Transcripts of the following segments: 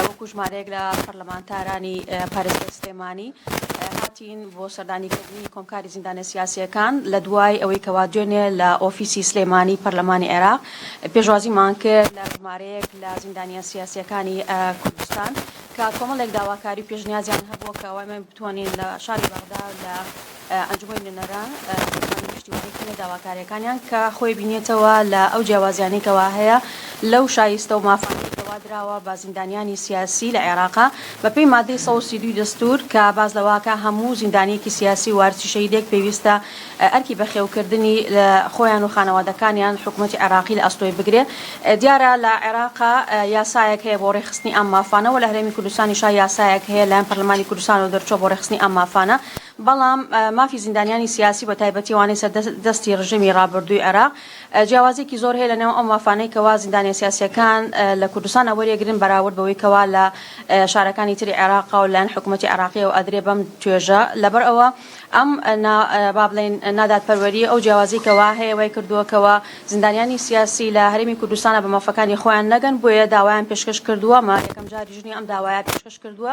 وەکو ژمارەیەک لە پەرلەمانتارانی پارێزگای سلێمانی هاتین بۆ سەردانیکردنی کۆمکاری زیندانە سیاسیەکان لە دوای ئەوەی کەوا دوێنێ لە ئۆفیسی سلێمانی پەرلەمانی عێراق پێشوازیمان کرد لە ژمارەیەک لە زیندانیان سیاسیەکانی کوردستان کە کۆمەڵێک داواکاری پێشنیازیان هەبووە کەوای من بتوانین لە شاری بەغدا لە ئەنجومەنی نوێنەران دەتوانن پشتیوانی بکەن لە داواکارییەکانیان کە خۆی بینێتەوە لە ئەو جیاوازیانەی کەوا هەیە لەو شایستە و مافانەی کەوا دراوە بە زیندانیانی سیاسی لە عێراق بە پێی مادەی سەد و سی و دوو دەستوور کە باس لەوە ئەکا هەموو زیندانییەکی سیاسی و وارسی شەهیدێک پێویستە ئەرکی بەخێوکردنی خۆیان و خانەوادەکانیان حکومەتی عێراقی لە ئەستۆی بگرێ دیارە لە عێراق یاسایەک هەیە بۆ ڕێکخستنی ئەم مافانە وە لە هەرێمی کوردستانیشا یاسایەک هەیە لەلایەن پەرلەمانی کوردستانەوە دەرچووە بۆ ڕێکخستنی ئەم مافانە بەڵام مافی زیندانیانی سیاسی بە تایبەتی ئەوانەی سەر دەستی رژێمی رابردووی عێراق، جیاوازیەکی زۆر هەیە لە نێو ئەو مافانەی کەوا زیندانیە سیاسیەکان لە کوردستان وەریەگرن بەراورد بەوەی کەوا لە شارەکانی تری عێراقا و لەلایەن حکومەتی عێراقیەوە ئەدرێ بەم توێژە لەبەر ئەوە ئەم نا با بڵێین نادادپەروەریە ئەو جیاوازی کەوا هەیە وای کردووە کەوا زیندانیانی سیاسی لە هەرێمی کوردستانا بە مافەکانی خۆیان نەگەن بۆیە داوایان پێشکەش کردووە مە یەکەم جاریش نیە ئەم داوایە پێشکەش کردووە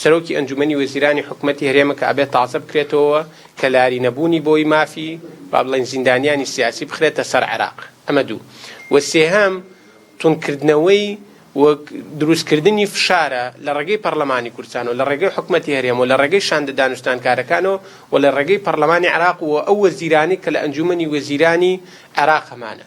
سەرۆکی ئەنجومەنی وەزیرانی حکومەتی هەرێمە کە ئەبێ تازە بکرێتەوە کە لاری نەبوونی بۆی مافی با بڵێین زیندانیانی سیاسی بخرێتە سەر عێراق ئەمە دوو وە سێهەم تون کردنەوەی و دروست کردنی فشارە لە ڕێگەی پەرلەمانی کوردستان و لە ڕێگەی حکومەتی هەرێم و لە ڕێگەی شاندە دانوستانکارەکانەوە و لە ڕێگەی پەرلەمانی عێراق و ئەو وەزیرانی کە لە ئەنجومەنی وەزیرانی عێراق هەمانە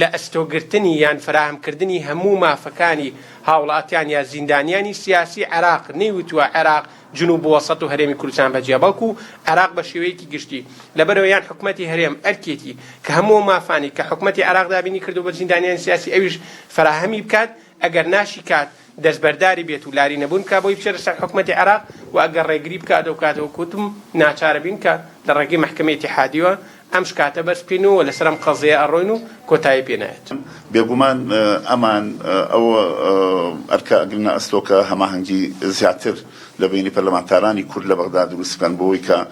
لە ئەستۆ گرتنی یان فەراهەم کردنی هەموو مافەکانی هاوڵاتیان یا زیندانیانی سیاسی عێراق نەیوتووە عێراق جنوب وەسەت و هەرێمی کوردستان بەجیا بەڵکو عێراق بە شێوەیەکی گشتی لەبەرەوە یان حکومەتی هەرێم ئەرکێتی کە هەموو ئەو مافانەی کە حکومەتی عێراق دابینی کردووە بە زیندانیانی سیاسی ئەویش فەراهەمی بکات ئەگەر ناشیکات دەستبەرداری بێت و لاری نەبوون بکات بۆی بچێتە سەر حکومەتی عێراق و ئەگەر ڕێگری بکات ئەو کاتە وەکو وتم ناچارەبین کە لە ڕێگەی مەحکەمەی ئیتیحادییەوە ئەم شکاتە بەرز بکەین و لەسەر ئەم قەزیەیە ئەڕۆین و کۆتایی پێ نایەت. بێگومان ئەمان ئەو ئەرکە ئەگرنە ئەستۆ کە هەماهەنگی زیاتر لە بەینی پەرلەمانتارانی کورد لە بەغدا دروست بکەن بۆ ئەوەی کە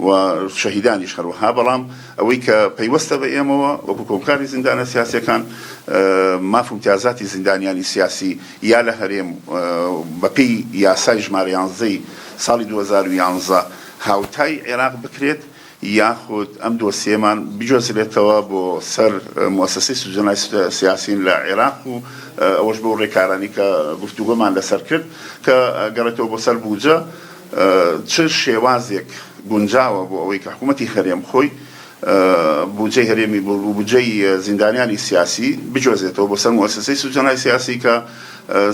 و شەهیدانیش هەروەها، بەڵام ئەوەی کە پەیوەستە بە ئێمەوە وەکو کۆمکاری زیندانە سیاسیەکان ماف امتیازاتی زیندانیانی سیاسی یا لە هەرێم بە پێی یاسای ژمارە یانزدە ی ساڵی دوو هەزار و یانزە هاوتای عێراق بکرێت یاخود ئەم دۆسیەمان بگوێزرێتەوە بۆ سەر موسسەی سجنای سیاسین لە عێراق و ئەوەش بەو رێکارانەی کە گفتوگۆمان لەسەر کرد کە گەڕێتەوە بۆ سەر بودجە چ شێوازێک گونجاوە بۆ ئەوەی کە حکوومەتی هەرێم خۆی بودجەی هەرێمی بۆ بودجەی زیندانیانی سیاسی بجۆزێتەوە بۆ سەر موئەسەسەی سجنهای سیاسی کە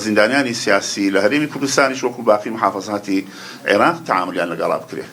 زیندانیانی سیاسی لە هەرێمی کوردستانیش وەکوو باقی محافەزاتی عێراق تەعامولیان لەگەڵا بکرێ.